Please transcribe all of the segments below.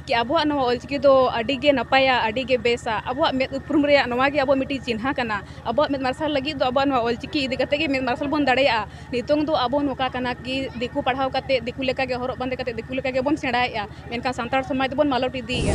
ᱠᱤ ᱟᱵᱚᱣᱟᱜ ᱱᱚᱣᱟ ᱚᱞ ᱪᱤᱠᱤ ᱫᱚ ᱟᱹᱰᱤ ᱜᱮ ᱱᱟᱯᱟᱭᱟ ᱟᱹᱰᱤ ᱜᱮ ᱵᱮᱥᱟ ᱟᱵᱚᱣᱟᱜ ᱢᱮᱫ ᱩᱯᱨᱩᱢ ᱨᱮᱭᱟᱜ ᱱᱚᱣᱟ ᱜᱮ ᱟᱵᱚᱣᱟᱜ ᱢᱤᱫᱴᱤᱡ ᱪᱤᱱᱦᱟᱹ ᱠᱟᱱᱟ ᱟᱵᱚᱣᱟᱜ ᱢᱮᱫ ᱢᱟᱨᱥᱟᱞ ᱞᱟᱹᱜᱤᱫ ᱫᱚ ᱟᱵᱚᱣᱟᱜ ᱱᱚᱣᱟ ᱚᱞ ᱪᱤᱠᱤ ᱤᱫᱤ ᱠᱟᱛᱮ ᱜᱮ ᱢᱮᱫ ᱢᱟᱨᱥᱟᱞ ᱵᱚᱱ ᱫᱟᱲᱮᱭᱟᱜᱼᱟ ᱱᱤᱛᱚᱝ ᱫᱚ ᱟᱵᱚ ᱱᱚᱝᱠᱟ ᱠᱟᱱᱟ ᱠᱤ ᱫᱤᱠᱩ ᱯᱟᱲᱦᱟᱣ ᱠᱟᱛᱮ ᱫᱤᱠᱩ ᱞᱮᱠᱟ ᱜᱮ ᱦᱚᱨᱚᱜ ᱵᱟᱸᱫᱮ ᱠᱟᱛᱮ ᱫᱤᱠᱩ ᱞᱮᱠᱟ ᱜᱮᱵᱚᱱ ᱥᱮᱬᱟᱭᱮᱜᱼᱟ ᱢᱮᱱᱠᱷᱟᱱ ᱥᱟᱱᱛᱟᱲ ᱥᱚᱢᱟᱡᱽ ᱫᱚᱵᱚᱱ ᱢᱟᱞᱚᱴ ᱤᱫᱤᱭᱮᱜᱼᱟ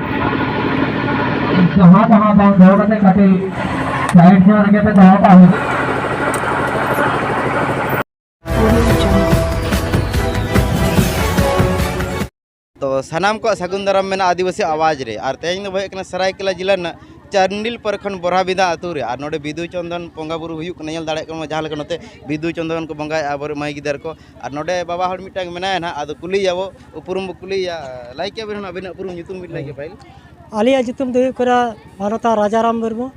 ᱡᱟᱦᱟᱸ ᱡᱟᱦᱟᱸ ᱵᱟᱝ ᱫᱚᱦᱚ ᱠᱟᱛᱮ ᱠᱟᱹᱴᱤᱡ ᱥᱟᱭᱤᱰ ᱧᱚᱜ ᱨᱮᱜᱮ ᱯᱮ ᱫᱚᱦᱚ ᱠᱟᱜ ᱦᱩᱭᱩᱜᱼᱟ ᱛᱚ ᱥᱟᱱᱟᱢ ᱠᱚᱣᱟᱜ ᱥᱟᱹᱜᱩᱱ ᱫᱟᱨᱟᱢ ᱢᱮᱱᱟᱜᱼᱟ ᱟᱹᱫᱤᱵᱟᱹᱥᱤ ᱟᱣᱟᱡᱽ ᱨᱮ ᱟᱨ ᱛᱮᱦᱮᱧ ᱫᱚ ᱦᱩᱭᱩᱜ ᱠᱟᱱᱟ ᱥᱟᱨᱟᱭᱠᱮᱞᱟ ᱡᱮᱞᱟ ᱨᱮᱱᱟᱜ ᱪᱟᱱᱰᱤᱞ ᱯᱚᱨᱠᱷᱚᱸᱰ ᱵᱚᱨᱦᱟᱵᱤᱫᱟ ᱟᱹᱛᱩ ᱨᱮ ᱟᱨ ᱱᱚᱰᱮ ᱵᱤᱫᱩ ᱪᱚᱱᱫᱚᱱ ᱵᱚᱸᱜᱟ ᱵᱩᱨᱩ ᱦᱩᱭᱩᱜ ᱠᱟᱱᱟ ᱧᱮᱞ ᱫᱟᱲᱮᱭᱟᱜ ᱠᱟᱱᱟ ᱡᱟᱦᱟᱸ ᱞᱮᱠᱟ ᱱᱚᱛᱮ ᱵᱤᱫᱩ ᱪᱚᱱᱫᱚᱱ ᱠᱚ ᱵᱚᱸᱜᱟᱭᱮᱫᱼᱟ ᱟᱵᱚᱨᱮᱱ ᱢᱟᱹᱭ ᱜᱤᱫᱟᱹᱨ ᱠᱚ ᱟᱨ ᱱᱚᱰᱮ ᱵᱟᱵᱟ ᱦᱚᱲ ᱢᱤᱫᱴᱟᱝ ᱢᱮᱱᱟᱭᱟ ᱱᱟᱦᱟᱜ ᱟᱫᱚ ᱠᱩᱞᱤᱭᱟᱵᱚ ᱩᱯᱨᱩᱢ ᱵᱚ ᱠᱩᱞᱤᱭᱟ ᱞᱟᱹᱭ ᱠᱮᱭᱟ ᱵᱮᱱ ᱟᱵᱤᱱᱟᱜ ᱩᱯᱨᱩᱢ ᱧᱩᱛᱩᱢ ᱵᱤᱱ ᱞᱟᱹᱭ ᱠᱮᱭᱟ ᱯᱟᱹᱦᱤᱞ ᱟᱞᱮᱭᱟᱜ ᱧᱩᱛᱩᱢ ᱫᱚ ᱦᱩᱭᱩᱜ ᱠᱟᱱᱟ ᱢᱟᱱᱚᱛᱟ ᱨᱟᱡᱟᱨᱟᱢ ᱢᱩᱨᱢᱩ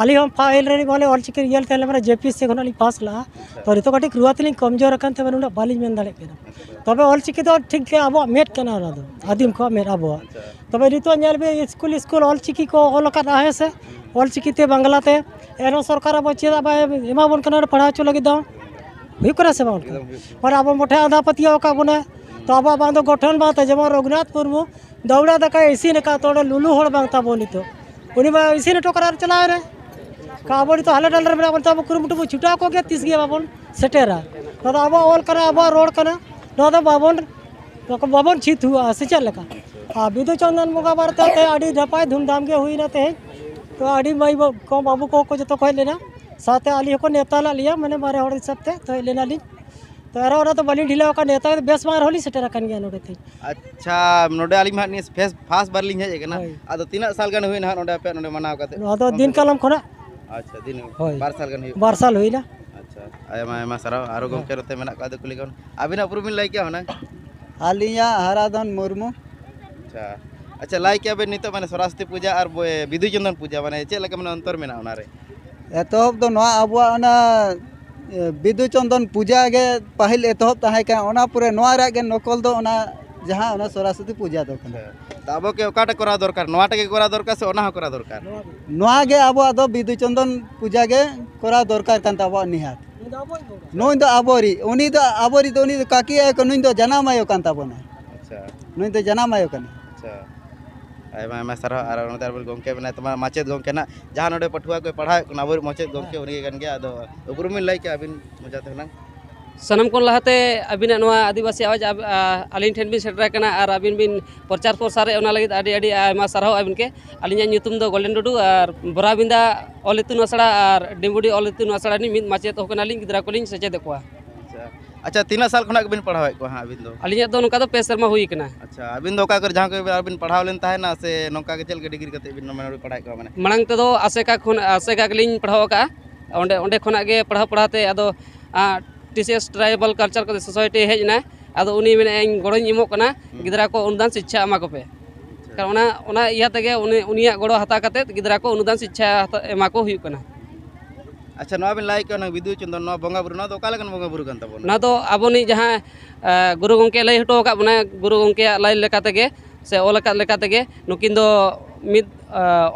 ᱟᱹᱞᱤᱧ ᱦᱚᱸ ᱯᱟᱹᱦᱤᱞ ᱨᱮ ᱵᱚᱞᱮ ᱚᱞ ᱪᱤᱠᱤ ᱤᱭᱟᱹ ᱛᱟᱦᱮᱸ ᱞᱮᱱᱟ ᱡᱮᱯᱤ ᱥᱮ ᱠᱷᱚᱱᱟᱜ ᱞᱤᱧ ᱯᱟᱥ ᱞᱟᱜᱼᱟ ᱛᱚ ᱱᱤᱛᱚᱜ ᱠᱟᱹᱴᱤᱡ ᱨᱩᱣᱟᱹ ᱛᱮᱞᱤᱧ ᱠᱚᱢᱡᱳᱨ ᱟᱠᱟᱱ ᱛᱮ ᱩᱱᱟᱹᱜ ᱵᱟᱹᱞᱤᱧ ᱢᱮᱱ ᱫᱟᱲᱮᱭᱟᱜ ᱠᱟᱱᱟ ᱛᱚᱵᱮ ᱚᱞ ᱪᱤᱠᱤ ᱫᱚ ᱴᱷᱤᱠ ᱜᱮ ᱟᱵᱚᱣᱟᱜ ᱢᱮᱫ ᱠᱟᱱᱟ ᱚᱱᱟ ᱫᱚ ᱟᱹᱫᱤᱢ ᱠᱚᱣᱟᱜ ᱢᱮᱫ ᱟᱵᱚᱣᱟᱜ ᱛᱚᱵᱮ ᱱᱤᱛᱚᱜ ᱧᱮᱞ ᱵᱤᱱ ᱥᱠᱩᱞ ᱥᱠᱩᱞ ᱚᱞ ᱪᱤᱠᱤ ᱠᱚ ᱚᱞ ᱟᱠᱟᱫᱟ ᱦᱮᱸ ᱥᱮ ᱚᱞ ᱪᱤᱠᱤ ᱛᱮ ᱵᱟᱝᱞᱟ ᱛᱮ ᱮᱱᱦᱚᱸ ᱥᱚᱨᱠᱟᱨ ᱟᱵᱚ ᱪᱮᱫᱟᱜ ᱵᱟᱭ ᱮᱢᱟᱵᱚᱱ ᱠᱟᱱᱟ ᱯᱟᱲᱦᱟᱣ ᱦᱚᱪᱚ ᱞᱟᱹᱜᱤᱫ ᱫᱚ ᱦᱩᱭᱩᱜ ᱠᱟᱱᱟ ᱥᱮ ᱵᱟᱝ ᱢᱟᱱᱮ ᱟᱵᱚ ᱢᱚᱴᱷᱮ ᱟᱸᱫᱷᱟ ᱯᱟᱹᱛᱭᱟᱹᱣ ᱟᱠᱟᱫ ᱵᱚᱱᱟ ᱛᱚ ᱟᱵᱚᱣᱟᱜ ᱵᱟᱝ ᱫᱚ ᱜᱚᱴᱷᱚᱱ ᱵᱟᱝ ᱛᱟᱭ ᱡᱮᱢᱚᱱ ᱨᱚᱜᱷᱩᱱᱟᱛᱷ ᱢᱩᱨᱢᱩ ᱫᱟᱹᱣᱲᱟ ᱫᱟᱠᱟᱭ ᱤᱥᱤᱱ ᱟᱠᱟᱫ ᱛᱚ ᱚᱸᱰᱮ ᱞᱩᱞᱩ ᱦᱚᱲ ᱵᱟᱝ ᱛᱟᱵᱚᱱ ᱱᱤᱛᱚᱜ ᱩᱱᱤ ᱢᱟ ᱤᱥᱤᱱ ᱦᱚᱴᱚ ᱠᱟᱜ ᱟᱨ ᱪᱟᱞᱟᱣ ᱮᱱᱟᱭ ᱠᱟ ᱟᱵᱚ ᱱᱤᱛᱚᱜ ᱦᱟᱞᱮ ᱰᱟᱞᱮ ᱨᱮ ᱢᱮᱱᱟᱜ ᱵᱚᱱ ᱛᱮ ᱟᱵᱚ ᱠᱩᱨᱩᱢᱩᱴᱩ ᱵᱚᱱ ᱪᱷᱩᱴᱟᱣ ᱠᱚᱜ ᱜᱮᱭᱟ ᱛᱤᱥ ᱜᱮ ᱵᱟᱵᱚᱱ ᱥᱮᱴᱮᱨᱟ ᱱᱚᱣᱟ ᱫᱚ ᱟᱵᱚᱣᱟᱜ ᱚᱞ ᱠᱟᱱᱟ ᱟᱵᱚᱣᱟᱜ ᱨᱚᱲ ᱠᱟᱱᱟ ᱱᱚᱣᱟ ᱫᱚ ᱵᱟᱵᱚᱱ ᱵᱟᱵᱚᱱ ᱪᱷᱤᱛ ᱦᱩᱭᱩᱜᱼᱟ ᱥᱮ ᱪᱮᱫ ᱞᱮᱠᱟ ᱟᱨ ᱵᱤᱫᱩ ᱪᱚᱱᱫᱚᱱ ᱵᱚᱸᱜᱟ ᱵᱟᱨᱮᱛᱮ ᱟᱹᱰᱤ ᱱᱟᱯᱟᱭ ᱫᱷᱩᱢᱫᱷᱟᱢ ᱜᱮ ᱦᱩᱭᱱᱟ ᱛᱮᱦᱮᱧ ᱛᱚ ᱟᱹᱰᱤ ᱢᱟᱹᱭ ᱠᱚ ᱵᱟᱹᱵᱩ ᱠᱚᱦᱚᱸ ᱠᱚ ᱡᱚᱛᱚ ᱠᱚ ᱦᱮᱡ ᱞᱮᱱᱟ ᱥᱟᱶᱛᱮ ᱟᱹᱞᱤᱧ ᱦᱚᱸᱠᱚ ᱱᱮᱣᱛᱟ ᱞᱮᱫ ᱞᱤᱧᱟᱹ ᱢᱟᱱᱮ ᱵᱟᱨᱭᱟ ᱦᱚᱲ ᱦᱤᱥᱟᱹᱵ ᱛᱮ ᱛᱚ ᱦᱮᱡ ᱞᱮᱱᱟᱞᱤᱧ ᱛᱚ ᱟᱨᱚ ᱚᱱᱟ ᱫᱚ ᱵᱟᱹᱞᱤᱧ ᱰᱷᱤᱞᱟᱹᱣ ᱟᱠᱟᱫ ᱱᱮᱣᱛᱟ ᱠᱟᱛᱮ ᱵᱮᱥ ᱵᱟᱝ ᱨᱮᱦᱚᱸ ᱞᱤᱧ ᱥᱮᱴᱮᱨ ᱟᱠᱟᱱ ᱜᱮᱭᱟ ᱱᱚᱰᱮ ᱛᱮᱧ ᱟᱪᱪᱷᱟ ᱱᱚᱰᱮ ᱟᱹᱞᱤᱧ ᱢᱟ ᱦᱟᱸᱜ ᱱᱤᱭᱟᱹ ᱯᱷᱮᱥ ᱯᱷᱟᱥᱴ ᱵᱟᱨ ᱞᱤᱧ ᱦᱮᱡ ᱟᱠᱟᱱᱟ ᱦᱳᱭ᱾ ᱟᱫᱚ ᱛᱤᱱᱟᱹᱜ ᱥᱟᱞ ᱜᱟᱱ ᱦᱩᱭᱱᱟ ᱦᱟᱸᱜ ᱱᱚᱰᱮ ᱟᱯᱮ ᱱᱚᱰᱮ ᱢᱟᱱᱟᱣ ᱠᱟᱛᱮ ᱱᱚᱣᱟ ᱫᱚ ᱫᱤᱱ ᱠᱟᱞᱚᱢ ᱠᱷᱚᱱᱟᱜ ᱟᱪᱪᱷᱟ ᱫᱤᱱ ᱦᱳᱭ᱾ ᱵᱟᱨ ᱥᱟᱞ ᱜᱟᱱ ᱦᱩᱭᱩᱜ ᱵᱟᱨ ᱥᱟᱞ ᱦᱩᱭᱱᱟ ᱟᱪᱪᱷᱟ ᱟᱭᱢᱟ ᱟᱭᱢᱟ ᱥᱟᱨᱦᱟᱣ ᱟᱨᱚ ᱜᱚᱢᱠᱮ ᱱᱚᱛᱮ ᱢᱮᱱᱟᱜ ᱠᱚᱣᱟ ᱟᱫᱚ ᱠᱩᱞᱤ ᱠᱚ ᱟᱹᱵᱤᱱᱟᱜ ᱩᱯᱨᱩᱢ ᱵᱤᱱ ᱞᱟᱹᱭ ᱠᱮᱭᱟ ᱦᱩᱱᱟᱹᱝ ᱟᱹᱞᱤᱧᱟᱜ ᱦᱟᱨᱟᱫᱷᱚᱱ ᱢᱩᱨᱢᱩ ᱟᱪᱪᱷᱟ ᱟᱪᱪᱷᱟ ᱞᱟᱹᱭ ᱠᱮᱭᱟ ᱵᱤᱱ ᱱᱤᱛᱚᱜ ᱢᱟᱱᱮ ᱥᱚᱨᱚᱥᱚᱛᱤ ᱯᱩᱡᱟ ᱟᱨ ᱵᱚᱭ- ᱵᱤᱫᱩ ᱪᱚᱱᱫᱚᱱ ᱯᱩᱡᱟ ᱢᱟᱱᱮ ᱪᱮᱫ ᱞᱮᱠᱟ ᱢᱟᱱᱮ ᱚᱱᱛᱚᱨ ᱢᱮᱱᱟᱜᱼᱟ ᱚᱱᱟᱨᱮ ᱮᱛᱚᱦᱚᱵ ᱫᱚ ᱱᱚᱣᱟ ᱟᱵᱚᱣᱟᱜ ᱚᱱᱟ ᱵᱤᱫᱩ ᱪᱟᱸᱫᱟᱱ ᱯᱩᱡᱟᱹ ᱜᱮ ᱯᱟᱹᱦᱤᱞ ᱮᱛᱚᱦᱚᱵ ᱛᱟᱦᱮᱸ ᱠᱟᱱᱟ ᱚᱱᱟ ᱯᱚᱨᱮ ᱱᱚᱣᱟ ᱨᱮᱭᱟᱜ ᱜᱮ ᱱᱚᱠᱚᱞ ᱫᱚ ᱚᱱᱟ ᱡᱟᱦᱟᱸ ᱚᱱᱟ ᱥᱚᱨᱚᱥᱚᱛᱤ ᱯᱩᱡᱟᱹ ᱫᱚ ᱠᱟᱱᱟ ᱛᱚ ᱟᱵᱚ ᱠᱤ ᱚᱠᱟᱴᱟᱜ ᱠᱚᱨᱟᱣ ᱫᱚᱨᱠᱟᱨ ᱱᱚᱣᱟᱴᱟᱜ ᱜᱮ ᱠᱚᱨᱟᱣ ᱫᱚᱨᱠᱟᱨ ᱥᱮ ᱚᱱᱟ ᱦᱚᱸ ᱠᱚᱨᱟᱣ ᱫᱚᱨᱠᱟᱨ ᱱᱚᱣᱟ ᱜᱮ ᱟᱵᱚᱣᱟᱜ ᱫᱚ ᱵᱤᱫᱩ ᱪᱟᱸᱫᱟᱱ ᱯᱩᱡᱟᱹ ᱜᱮ ᱠᱚᱨᱟᱣ ᱫᱚᱨᱠᱟᱨ ᱠᱟᱱ ᱛᱟᱵᱚᱣᱟ ᱱᱤᱦᱟᱹᱛ ᱱᱩᱭ ᱫᱚ ᱟᱵᱚᱨᱤᱡ ᱩᱱᱤ ᱫᱚ ᱟᱵᱚᱨᱤᱡ ᱫᱚ ᱩᱱᱤ ᱫᱚ ᱠᱟᱹᱠᱤ ᱟᱭᱳ ᱠᱟᱱᱟ ᱱᱩᱭ ᱫᱚ ᱡᱟᱱᱟᱢ ᱟᱭᱳ ᱠᱟᱱ ᱛᱟᱵᱚᱱᱟᱭ ᱟᱪᱪᱷᱟ ᱱᱩᱭ ᱫᱚ ᱡᱟᱱᱟᱢ ᱟᱭᱳ ᱠᱟᱱᱟᱭ ᱟᱪᱪᱷᱟ ᱟᱭᱢᱟ ᱟᱭᱢᱟ ᱥᱟᱨᱦᱟᱣ ᱟᱨ ᱚᱱᱟᱛᱮ ᱟᱵᱚ ᱜᱚᱢᱠᱮ ᱢᱮᱱᱟᱭ ᱛᱟᱵᱚᱱᱟ ᱢᱟᱪᱮᱫ ᱜᱚᱢᱠᱮ ᱱᱟᱜ ᱡᱟᱦᱟᱸ ᱱᱚᱰᱮ ᱯᱟᱹᱴᱷᱩᱣᱟᱹ ᱠᱚᱭ ᱯᱟᱲᱦᱟᱣᱮᱫ ᱠᱚ ᱟᱵᱚᱨᱮᱱ ᱢᱟᱪᱮᱫ ᱜᱚᱢᱠᱮ ᱩᱱᱤ ᱠᱟᱱ ᱜᱮᱭᱟ ᱟᱫᱚ ᱩᱯᱨᱩᱢ ᱵᱤᱱ ᱞᱟᱹᱭ ᱠᱮᱭᱟ ᱟᱹᱵᱤᱱ ᱢᱚᱡᱟ ᱛᱮ ᱦᱩᱱᱟᱹᱝ ᱥᱟᱱᱟᱢ ᱠᱷᱚᱱ ᱞᱟᱦᱟᱛᱮ ᱟᱹᱵᱤᱱᱟᱜ ᱱᱚᱣᱟ ᱟᱹᱫᱤᱵᱟᱹᱥᱤ ᱟᱣᱟᱡᱽ ᱟᱹᱞᱤᱧ ᱴᱷᱮᱱ ᱵᱤᱱ ᱥᱮᱴᱮᱨ ᱟᱠᱟᱱᱟ ᱟᱨ ᱟᱹᱵᱤᱱ ᱵᱤᱱ ᱯᱨᱚᱪᱟᱨ ᱯᱨᱚᱥᱟᱨᱮᱫ ᱚᱱᱟ ᱞᱟᱹᱜᱤᱫ ᱟᱹᱰᱤ ᱟᱹᱰᱤ ᱟᱭᱢᱟ ᱥᱟᱨᱦᱟᱣ ᱟᱹᱵᱤᱱ ᱜᱮ ᱟᱹᱞᱤᱧᱟᱜ ᱧᱩᱛᱩᱢ ᱫᱚ ᱜᱳᱞᱰᱮᱱ ᱴᱩᱰᱩ ᱟᱨ ᱵᱚᱨᱟᱵᱤᱸᱫᱟ ᱚᱞ ᱤᱛᱩᱱ ᱟᱥᱲᱟ ᱟᱨ ᱰᱤᱢᱵᱩᱰᱤ ᱚᱞ ᱤᱛᱩᱱ ᱟᱥᱲᱟ ᱨᱤᱱᱤᱡ ᱢᱤᱫ ᱢᱟᱪᱮᱫ ᱦᱚᱸ ᱠᱟᱱᱟᱞᱤᱧ ᱜᱤᱫᱽᱨᱟᱹ ᱠᱚᱞᱤᱧ ᱥᱮᱪᱮᱫᱮᱫ ᱠᱚᱣᱟ ᱟᱪᱪᱷᱟ ᱛᱤᱱᱟᱹᱜ ᱥᱟᱞ ᱠᱷᱚᱱᱟᱜ ᱜᱮᱵᱤᱱ ᱯᱟᱲᱦᱟᱣᱮᱫ ᱠᱚᱣᱟ ᱦᱟᱸᱜ ᱟᱹᱵᱤᱱ ᱫᱚ ᱟᱹᱞᱤᱧᱟᱜ ᱫᱚ ᱱᱚᱝᱠᱟ ᱫᱚ ᱯᱮ ᱥᱮᱨᱢᱟ ᱦᱩᱭ ᱠᱟᱱᱟ ᱟᱪᱪᱷᱟ ᱟᱹᱵᱤᱱ ᱫᱚ ᱚᱠᱟ ᱠᱚᱨᱮ ᱡᱟᱦᱟᱸ ᱠᱚᱨᱮ ᱟᱹᱵᱤᱱ ᱯᱟᱲᱦᱟᱣ ᱞᱮᱱ ᱛᱟᱦᱮᱱᱟ ᱥᱮ ᱱᱚᱝᱠᱟ ᱜᱮ ᱪᱮᱫ ᱞᱮᱠᱟ ᱰᱤᱜᱽᱨᱤ ᱠᱟᱛᱮ ᱵᱤᱱ ᱢᱟᱱᱮ ᱯᱟᱲᱦᱟᱣᱮᱫ ᱠᱚᱣᱟ ᱢᱟᱱᱮ ᱢᱟᱲᱟᱝ ᱛᱮᱫᱚ ᱟᱥᱮᱠᱟ ᱠᱷᱚᱱ ᱟᱥᱮᱠᱟ ᱜᱮᱞᱤᱧ ᱯᱟᱲᱦᱟᱣ ᱟᱠᱟᱜᱼᱟ ᱚᱸᱰᱮ ᱚᱸᱰᱮ ᱠᱷᱚᱱᱟᱜ ᱜᱮ ᱯᱟᱲᱦᱟᱣ ᱯᱟᱲᱦᱟᱣ ᱛᱮ ᱟᱫᱚ T C S tribal culture society ᱦᱮᱡ ᱮᱱᱟᱭ ᱟᱫᱚ ᱩᱱᱤ ᱢᱮᱱᱮᱫᱼᱟᱭ ᱤᱧ ᱜᱚᱲᱚᱧ ᱮᱢᱚᱜ ᱠᱟᱱᱟ ᱜᱤᱫᱽᱨᱟᱹ ᱠᱚ ᱚᱱᱩᱫᱟᱱ ᱥᱤᱪᱪᱷᱟ ᱮᱢᱟ ᱠᱚᱯᱮ ᱠᱟᱨᱚᱱ ᱚᱱᱟ ᱚᱱᱟ ᱤᱭᱟᱹ ᱛᱮᱜᱮ ᱩᱱᱤ ᱩᱱᱤᱭᱟᱜ ᱜᱚᱲᱚ ᱦᱟᱛᱟᱣ ᱠᱟᱛᱮᱫ ᱜᱤᱫᱽᱨᱟᱹ ᱠᱚ ᱚᱱᱩᱫᱟᱱ ᱥᱤᱪᱪᱷᱟ ᱮᱢᱟ ᱠᱚ ᱦᱩᱭᱩᱜ ᱠᱟᱱᱟ ᱟᱪᱪᱷᱟ ᱱᱚᱣᱟ ᱵᱤᱱ ᱞᱟᱹᱭ ᱠᱮᱫ ᱚᱱᱟ ᱵᱤᱫᱩ ᱪᱚᱱᱫᱚᱱ ᱱᱚᱣᱟ ᱵᱚᱸᱜᱟ ᱵᱩᱨᱩ ᱱᱚᱣᱟ ᱫᱚ ᱚᱠᱟ ᱞᱮᱠᱟᱱ ᱵᱚᱸᱜᱟ ᱵᱩᱨᱩ ᱠᱟᱱ ᱛᱟᱵᱚᱱᱟ ᱱᱚᱣᱟ ᱫᱚ ᱟᱵᱚᱱᱤᱡ ᱡᱟᱦᱟᱸ ᱜᱩᱨᱩ ᱜᱚᱢᱠᱮ ᱞᱟᱹᱭ ᱦᱚᱴᱚ ᱟᱠᱟᱫ ᱵᱚᱱᱟᱭ ᱜᱩᱨᱩ ᱜᱚᱢᱠᱮᱭᱟᱜ ᱞᱟᱹᱭ ᱞᱮᱠᱟ ᱛᱮᱜᱮ ᱥᱮ ᱚᱞ ᱟᱠᱟᱫ ᱞᱮᱠᱟ ᱛᱮᱜᱮ ᱱᱩᱠᱤᱱ ᱫᱚ ᱢᱤᱫ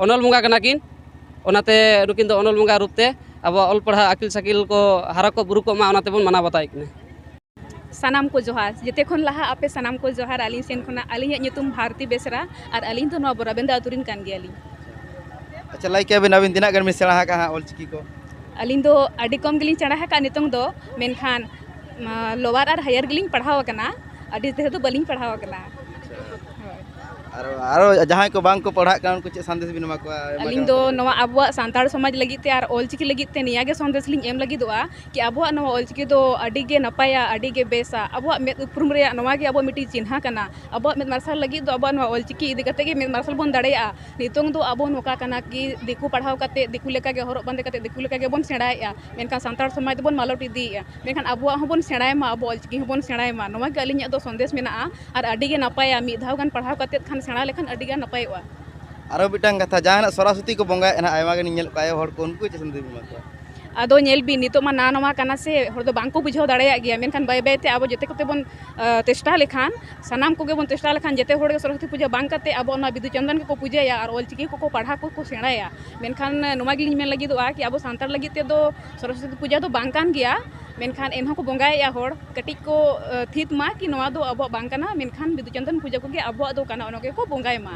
ᱚᱱᱚᱞ ᱵᱚᱸᱜᱟ ᱠᱟᱱᱟ ᱠᱤᱱ ᱚᱱᱟᱛᱮ ᱱᱩᱠᱤᱱ ᱫᱚ ᱚᱱᱚᱞ ᱵᱚᱸᱜᱟ ᱨᱩᱯ ᱛᱮ ᱟᱵᱚᱣᱟᱜ ᱚᱞ ᱯᱟᱲᱦᱟᱣ ᱟᱹᱠᱤᱞ ᱥᱟᱹᱠᱤᱞ ᱠᱚ ᱦᱟᱨᱟ ᱠᱚᱜ ᱵᱩᱨᱩ ᱠᱚᱜ ᱢᱟ ᱚᱱᱟ ᱛᱮᱵᱚᱱ ᱢᱟᱱᱟᱣ ᱵᱟᱛᱟᱣᱮᱫ ᱠᱤᱱᱟ ᱥᱟᱱᱟᱢ ᱠᱚ ᱡᱚᱦᱟᱨ ᱡᱮᱛᱮ ᱠᱷᱚᱱ ᱞᱟᱦᱟ ᱟᱯᱮ ᱥᱟᱱᱟᱢ ᱠᱚ ᱡᱚᱦᱟᱨ ᱟᱹᱞᱤᱧ ᱥᱮᱱ ᱠᱷᱚᱱᱟᱜ ᱟᱹᱞᱤᱧᱟᱜ ᱧᱩᱛᱩᱢ ᱵᱷᱟᱨᱚᱛᱤ ᱵᱮᱥᱨᱟ ᱟᱨ ᱟᱹᱞᱤᱧ ᱫᱚ ᱱᱚᱣᱟ ᱵᱚᱨᱟᱵᱮᱱᱫᱟ ᱟᱹᱛᱩ ᱨᱤᱱ ᱠᱟᱱ ᱜᱮᱭᱟᱞᱤᱧ ᱟᱪᱪᱷᱟ ᱞᱟᱹᱭ ᱠᱮᱭᱟᱵᱤᱱ ᱟᱹᱵᱤᱱ ᱛᱤᱱᱟᱹᱜ ᱜᱟᱱ ᱵᱤᱱ ᱥᱮᱬᱟ ᱟᱠᱟᱫᱼᱟ ᱦᱟᱸᱜ ᱚᱞᱪᱤᱠᱤ ᱠᱚ ᱟᱹᱞᱤᱧ ᱫᱚ ᱟᱹᱰᱤ ᱠᱚᱢ ᱜᱮᱞᱤᱧ ᱥᱮᱬᱟ ᱟᱠᱟᱫᱼᱟ ᱱᱤᱛᱚᱝ ᱫᱚ ᱢᱮᱱᱠᱷᱟᱱ ᱞᱳᱣᱟᱨ ᱟᱨ ᱦᱟᱭᱟᱨ ᱜᱮᱞᱤᱧ ᱯᱟᱲᱦᱟᱣ ᱟᱠᱟᱱᱟ ᱟᱹᱰᱤ ᱰᱷᱮᱨ ᱫᱚ ᱵᱟᱹᱞᱤᱧ ᱯᱟᱲᱦᱟᱣ ᱟᱠᱟᱱᱟ ᱟᱨ ᱟᱨ ᱡᱟᱦᱟᱸᱭ ᱠᱚ ᱵᱟᱝ ᱠᱚ ᱯᱟᱲᱦᱟᱜ ᱠᱟᱱᱟ ᱩᱱᱠᱩ ᱪᱮᱫ ᱥᱟᱸᱫᱮᱥ ᱵᱤᱱ ᱮᱢᱟ ᱠᱚᱣᱟ ᱟᱹᱞᱤᱧ ᱫᱚ ᱱᱚᱣᱟ ᱟᱵᱚᱣᱟᱜ ᱥᱟᱱᱛᱟᱲ ᱥᱚᱢᱟᱡᱽ ᱞᱟᱹᱜᱤᱫ ᱛᱮ ᱟᱨ ᱚᱞᱪᱤᱠᱤ ᱞᱟᱹᱜᱤᱫ ᱛᱮ ᱱᱤᱭᱟᱹ ᱜᱮ ᱥᱟᱸᱫᱮᱥ ᱞᱤᱧ ᱮᱢ ᱞᱟᱹᱜᱤᱫᱚᱜᱼᱟ ᱠᱤ ᱟᱵᱚᱣᱟᱜ ᱱᱚᱣᱟ ᱚᱞ ᱪᱤᱠᱤ ᱫᱚ ᱟᱹᱰᱤ ᱜᱮ ᱱᱟᱯᱟᱭᱟ ᱟᱹᱰᱤ ᱜᱮ ᱵᱮᱥᱟ ᱟᱵᱚᱣᱟᱜ ᱢᱮᱫ ᱩᱯᱨᱩᱢ ᱨᱮᱭᱟᱜ ᱱᱚᱣᱟ ᱜᱮ ᱟᱵᱚᱣᱟᱜ ᱢᱤᱫᱴᱤᱡ ᱪᱤᱱᱦᱟᱹ ᱠᱟᱱᱟ ᱟᱵᱚᱣᱟᱜ ᱢᱮᱫ ᱢᱟᱨᱥᱟᱞ ᱞᱟᱹᱜᱤᱫ ᱫᱚ ᱟᱵᱚᱣᱟᱜ ᱱᱚᱣᱟ ᱚᱞ ᱪᱤᱠᱤ ᱤᱫᱤ ᱠᱟᱛᱮᱫ ᱜᱮ ᱢᱮᱫ ᱢᱟᱨᱥᱟᱞ ᱵᱚᱱ ᱫᱟᱲᱮᱭᱟᱜᱼᱟ ᱱᱤᱛᱚᱝ ᱫᱚ ᱟᱵᱚ ᱱᱚᱝᱠᱟ ᱠᱟᱱᱟ ᱠᱤ ᱫᱤᱠᱩ ᱯᱟᱲᱦᱟᱣ ᱠᱟᱛᱮᱫ ᱫᱤᱠᱩ ᱞᱮᱠᱟ ᱜᱮ ᱦᱚᱨᱚᱜ ᱵᱟᱸᱫᱮ ᱠᱟᱛᱮᱫ ᱫᱤᱠᱩ ᱞᱮᱠᱟ ᱜᱮᱵᱚᱱ ᱥᱮᱬᱟᱭᱮᱜᱼᱟ ᱢᱮᱱᱠᱷᱟᱱ ᱥᱟᱱᱛᱟᱲ ᱥᱚᱢᱟᱡᱽ ᱫᱚᱵᱚᱱ ᱢᱟᱞᱚᱴ ᱤᱫᱤᱭᱮᱜᱼᱟ ᱢᱮᱱᱠᱷᱟᱱ ᱟᱵᱚᱣᱟᱜ ᱦᱚᱸᱵᱚᱱ ᱥᱮᱬᱟᱭ ᱢᱟ ᱟᱵᱚ ᱚᱞ ᱪᱤᱠᱤ ᱦᱚᱸᱵᱚᱱ ᱥᱮᱬᱟᱭ ᱢᱟ ᱱᱚᱣᱟ ᱜᱮ ᱟᱹᱞᱤᱧᱟᱜ ᱫᱚ ᱥᱟᱸᱫᱮᱥ ᱢᱮᱱᱟᱜᱼᱟ ᱟᱨ ᱟᱹᱰᱤ ᱜᱮ ᱱᱟᱯᱟᱭᱟ ᱢᱤᱫ ᱫᱷᱟᱣ ᱜᱟᱱ ᱯᱟᱲᱦᱟᱣ ᱠᱟᱛᱮᱫ ᱠᱷᱟᱱ ᱥᱮᱬᱟ ᱞᱮᱠᱷᱟᱱ ᱟᱹᱰᱤ ᱜᱟᱱ ᱱᱟᱯᱟᱭᱚᱜᱼᱟ ᱟᱨᱚ ᱢᱤᱫᱴᱟᱝ ᱠᱟᱛᱷᱟ ᱡᱟᱦᱟᱱᱟᱜ ᱥᱚᱨᱚᱥᱚᱛᱤ ᱠᱚ ᱵᱚᱸᱜᱟᱭᱮᱜᱼᱟ ᱟᱭᱢᱟ ᱜᱟᱱᱤᱧ ᱧᱮᱞᱮᱫ ᱠᱚᱣᱟ ᱟᱭᱳ ᱦᱚᱲ ᱠᱚ ᱩᱱᱠᱩ ᱪᱮᱫ ᱥᱟᱸᱫᱮᱥ ᱵᱤᱱ ᱮᱢᱟ ᱠᱚᱣᱟ ᱟᱫᱚ ᱧᱮᱞ ᱵᱤᱱ ᱱᱤᱛᱚᱜ ᱢᱟ ᱱᱟᱣᱟ ᱱᱟᱣᱟ ᱠᱟᱱᱟ ᱥᱮ ᱦᱚᱲ ᱫᱚ ᱵᱟᱝ ᱠᱚ ᱵᱩᱡᱷᱟᱹᱣ ᱫᱟᱲᱮᱭᱟᱜ ᱜᱮᱭᱟ ᱢᱮᱱᱠᱷᱟᱱ ᱵᱟᱹᱭ ᱵᱟᱹᱭ ᱛᱮ ᱟᱵᱚ ᱡᱮᱛᱮ ᱠᱚᱛᱮ ᱵᱚᱱ ᱪᱮᱥᱴᱟ ᱞᱮᱠᱷᱟᱱ ᱥᱟᱱᱟᱢ ᱠᱚᱜᱮ ᱵᱚᱱ ᱪᱮᱥᱴᱟ ᱞᱮᱠᱷᱟᱱ ᱡᱮᱛᱮ ᱦᱚᱲ ᱜᱮ ᱥᱚᱨᱚᱥᱚᱛᱤ ᱯᱩᱡᱟᱹ ᱵᱟᱝ ᱠᱟᱛᱮ ᱟᱵᱚ ᱚᱱᱟ ᱵᱤᱫᱩ ᱪᱟᱸᱫᱟᱱ ᱜᱮᱠᱚ ᱯᱩᱡᱟᱹᱭᱟ ᱟᱨ ᱚᱞ ᱪᱤᱠᱤ ᱠᱚᱠᱚ ᱯᱟᱲᱦᱟᱣ ᱠᱚᱠᱚ ᱥᱮᱬᱟᱭᱟ ᱢᱮᱱᱠᱷᱟᱱ ᱱᱚᱣᱟ ᱜᱮᱞᱤᱧ ᱢᱮᱱ ᱞᱟᱹᱜᱤᱫᱚᱜᱼᱟ ᱠᱤ ᱟᱵᱚ ᱥᱟᱱᱛᱟᱲ ᱞᱟᱹᱜᱤᱫ ᱛᱮᱫᱚ ᱥᱚᱨᱚᱥᱚᱛᱤ ᱯᱩᱡᱟᱹ ᱫᱚ ᱵᱟᱝ ᱠᱟᱱ ᱜᱮᱭᱟ ᱢᱮᱱᱠᱷᱟᱱ ᱮᱱᱦᱚᱸ ᱠᱚ ᱵᱚᱸᱜᱟᱭᱮᱜᱼᱟ ᱦᱚᱲ ᱠᱟᱹᱴᱤᱡ ᱠᱚ ᱛᱷᱤᱛ ᱢᱟ ᱠᱤ ᱱᱚᱣᱟ ᱫᱚ ᱟᱵᱚᱣᱟᱜ ᱵᱟᱝ ᱠᱟᱱᱟ ᱢᱮᱱᱠᱷᱟᱱ ᱵᱤᱫᱩ ᱪᱟᱸᱫᱟᱱ ᱯᱩᱡᱟᱹ ᱠᱚᱜᱮ ᱟᱵᱚᱣᱟᱜ ᱫᱚ ᱠᱟᱱᱟ ᱚᱱᱟ ᱜᱮᱠᱚ ᱵᱚᱸᱜᱟᱭ ᱢᱟ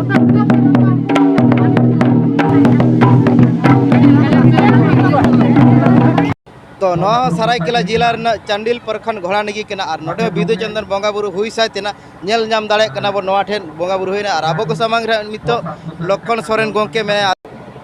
ᱛᱚ ᱱᱚᱣᱟ ᱥᱟᱨᱟᱭᱠᱮᱞᱟ ᱡᱮᱞᱟ ᱨᱮᱱᱟᱜ ᱪᱟᱱᱰᱤᱞ ᱯᱨᱚᱠᱷᱚᱸᱰ ᱜᱷᱚᱲᱟᱱᱤᱜᱤ ᱠᱟᱱᱟ ᱟᱨ ᱱᱚᱰᱮ ᱵᱤᱫᱩ ᱪᱚᱱᱫᱚᱱ ᱵᱚᱸᱜᱟ ᱵᱩᱨᱩ ᱦᱩᱭ ᱥᱟᱭ ᱛᱮᱱᱟᱜ ᱧᱮᱞ ᱧᱟᱢ ᱫᱟᱲᱮᱭᱟᱜ ᱠᱟᱱᱟ ᱵᱚᱱ ᱱᱚᱣᱟ ᱴᱷᱮᱱ ᱵᱚᱸᱜᱟ ᱵᱩᱨᱩ ᱦᱩᱭᱱᱟ ᱟᱨ ᱟᱵᱚ ᱠᱚ ᱥᱟᱢᱟᱝ ᱨᱮ ᱱᱤᱛᱚᱜ ᱞᱚᱠᱠᱷᱚᱱ ᱥᱚᱨᱮᱱ ᱜᱚᱢᱠᱮ ᱢᱮᱱᱟᱭᱟ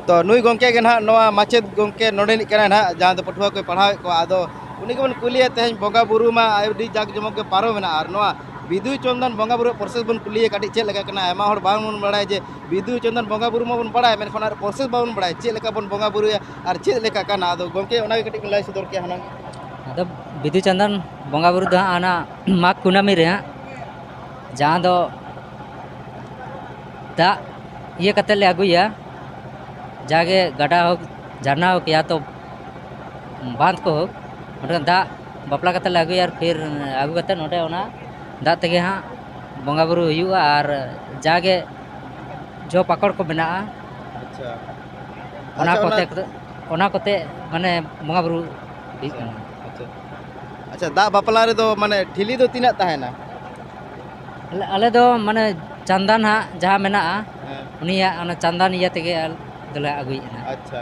ᱛᱚ ᱱᱩᱭ ᱜᱚᱢᱠᱮ ᱜᱮ ᱱᱟᱦᱟᱜ ᱱᱚᱣᱟ ᱢᱟᱪᱮᱫ ᱜᱚᱢᱠᱮ ᱱᱚᱰᱮᱱᱤᱡ ᱠᱟᱱᱟᱭ ᱱᱟᱦᱟᱜ ᱡᱟᱦᱟᱸ ᱫᱚ ᱯᱟᱹᱴᱷᱩᱣᱟᱹ ᱠᱚᱭ ᱯᱟᱲᱦᱟᱣᱮᱫ ᱠᱚᱣᱟ ᱟᱫᱚ ᱩᱱᱤ ᱜᱮᱵᱚᱱ ᱠᱩᱞᱤᱭᱮ ᱛᱮᱦᱮᱧ ᱵᱚᱸᱜᱟ ᱵᱩᱨᱩ ᱢᱟ ᱟᱹᱰᱤ ᱡᱟᱠ ᱡᱚᱢᱚᱠ ᱜᱮ ᱯᱟᱨᱚᱢᱮᱱᱟ ᱟᱨ ᱱᱚᱣᱟ ᱵᱤᱫᱩ ᱪᱚᱱᱫᱚᱱ ᱵᱚᱸᱜᱟ ᱵᱩᱨᱩ ᱯᱨᱚᱥᱮᱥ ᱵᱚᱱ ᱠᱩᱞᱤᱭᱮ ᱠᱟᱹᱴᱤᱡ ᱪᱮᱫ ᱞᱮᱠᱟ ᱠᱟᱱᱟ ᱟᱭᱢᱟ ᱦᱚᱲ ᱵᱟᱝ ᱵᱚᱱ ᱵᱟᱲᱟᱭᱟ ᱡᱮ ᱵᱤᱫᱩ ᱪᱚᱱᱫᱚᱱ ᱵᱚᱸᱜᱟ ᱵᱩᱨᱩ ᱢᱟᱵᱚᱱ ᱵᱟᱲᱟᱭ ᱢᱮᱱᱠᱷᱟᱱ ᱚᱱᱟ ᱯᱨᱚᱥᱮᱥ ᱵᱟᱵᱚᱱ ᱵᱟᱲᱟᱭᱟ ᱪᱮᱫ ᱞᱮᱠᱟ ᱵᱚᱱ ᱵᱚᱸᱜᱟ ᱵᱩᱨᱩᱭᱟ ᱟᱨ ᱪᱮᱫ ᱞᱮᱠᱟ ᱠᱟᱱᱟ ᱟᱫᱚ ᱜᱚᱢᱠᱮ ᱚᱱᱟᱜᱮ ᱠᱟᱹᱴᱤᱡ ᱵᱚᱱ ᱞᱟᱹᱭ ᱥᱚᱫᱚᱨ ᱠᱮᱭᱟ ᱦᱩᱱᱟᱹᱝ ᱟᱫᱚ ᱵᱤᱫᱩ ᱪᱚᱱᱫᱚᱱ ᱵᱚᱸᱜᱟ ᱵᱩᱨᱩ ᱫᱚ ᱦᱟᱸᱜ ᱚᱱᱟ ᱢᱟᱜᱽ ᱠᱩᱱᱟᱹᱢᱤ ᱨᱮ ᱦᱟᱸᱜ ᱡᱟᱦᱟᱸ ᱫᱚ ᱫᱟᱜ ᱤᱭᱟᱹ ᱠᱟᱛᱮ ᱞᱮ ᱟᱹᱜᱩᱭᱟ ᱡᱟᱜᱮ ᱜᱟᱰᱟ ᱦᱳᱠ ᱡᱷᱟᱨᱱᱟ ᱦᱳᱠ ᱭᱟ ᱛᱚ ᱵᱟᱸᱫᱷ ᱠᱚ ᱦᱳᱠ ᱚᱸᱰᱮ ᱫᱟᱜ ᱵᱟᱯᱞᱟ ᱠᱟᱛᱮᱫ ᱞᱮ ᱟᱹᱜᱩᱭᱟ ᱟᱨ ᱯᱷᱤᱨ ᱟᱹᱜᱩ ᱠᱟᱛᱮᱫ ᱱᱚᱸᱰᱮ ᱚᱱᱟ ᱫᱟᱜ ᱛᱮᱜᱮ ᱦᱟᱸᱜ ᱵᱚᱸᱜᱟ ᱵᱩᱨᱩ ᱦᱩᱭᱩᱜᱼᱟ ᱟᱨ ᱡᱟᱜᱮ ᱡᱚ ᱯᱟᱠᱚᱲ ᱠᱚ ᱢᱮᱱᱟᱜᱼᱟ ᱟᱪᱪᱷᱟ ᱚᱱᱟ ᱟᱪᱪᱷᱟ, ᱠᱚᱛᱮ ᱚᱱᱟ ᱠᱚᱛᱮ ᱢᱟᱱᱮ ᱵᱚᱸᱜᱟ ᱵᱩᱨᱩ ᱦᱩᱭᱩᱜ ᱠᱟᱱᱟ ᱟᱪᱪᱷᱟ ᱟᱪᱪᱷᱟ ᱫᱟᱜ ᱵᱟᱯᱞᱟ ᱨᱮᱫᱚ ᱢᱟᱱᱮ ᱴᱷᱤᱞᱤ ᱫᱚ ᱛᱤᱱᱟᱹᱜ ᱛᱟᱦᱮᱱᱟ ᱟᱞᱮ ᱟᱞᱮ ᱫᱚ ᱢᱟᱱᱮ ᱪᱟᱱᱫᱟᱱ ᱦᱟᱸᱜ ᱡᱟᱦᱟᱸ ᱢᱮᱱᱟᱜᱼᱟ ᱦᱮᱸ ᱩᱱᱤᱭᱟᱜ ᱚᱱᱟ ᱪᱟᱱᱫᱟᱱ ᱤᱭᱟᱹ ᱛᱮᱜᱮ ᱟᱞᱮ ᱫᱚᱞᱮ ᱟᱹᱜᱩᱭᱮᱫᱼᱟ ᱟᱪᱪᱷᱟ